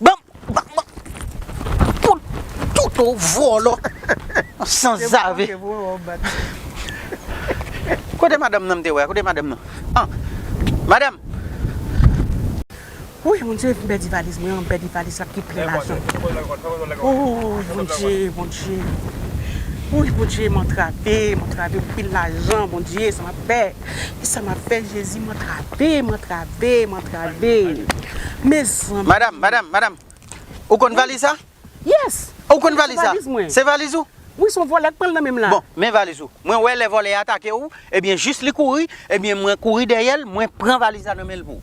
Banm banm banm poul toto vòlò sanzave Kote madanm nan m te wè a kote madanm nan an madanm. Wouy mon Dieu m pèdi valiz mwen an m pèdi valiz la ki plen lajan ooh mon Dieu mon Dieu wouy mon Dieu m antrave m antrave m anpil lajan mon Dieu sa map fè. Kisa map fè jezi m antrave m antrave m antrave mezanmi. Madam madam madam ou konn valiz sa? Yes ou konn valiz sa? Se valiz ou? Wi son vòlè k pranl nan menm la. Bon men valiz ou mwen wè lè vòlè a atake ou ebyen jis li kouri ebyen mwen kouri dèyèl mwen pran valiz la nan menl pou.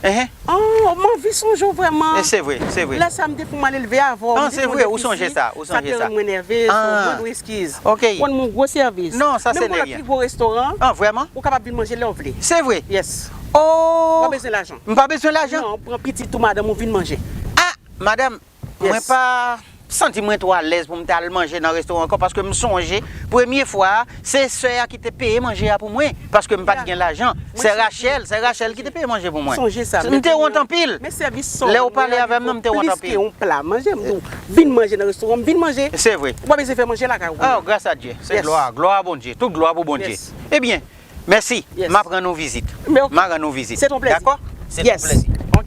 Ooh m anvi sonje w vrèman. Lè sa m te pou m ale leve avè w. M te konn depi si sa te rann mwen nève. Sou mwen dwe eskiz. Ou rann mwen gwo sèvis. Menm pou lòt pi gwo restoran. Ou kapab vin manje lè w vle. Yes. Ou pa bezwen lajan. M pa bezwen lajan. Non, pran pitit ou madanm ou vin manje. Ah! Madanm, Mwen pa santi mwen twò alèz pou m t al manje nan restoran ankò paske m sonje premye fwa a se sè a ki te peye manje a pou mwen paske m pa t gen lajan. Sè Rachel sè Rachel ki te peye manje pou mwen. M te wont anpil lè ou pale avè m nan m te wont anpil. Vin manje nan restoran m vin manje. Se vre. Ou pa bezwen fè manje lakay ou pou mwen. Oh gras a Dye. Se glwa a glwa a Bondye. Tout glwa pou Bondye. Ebyen mèsi m ap rann ou vizit. M a rann ou vizit. Se ton plezi. Dakò. Se ton plezi. Ok.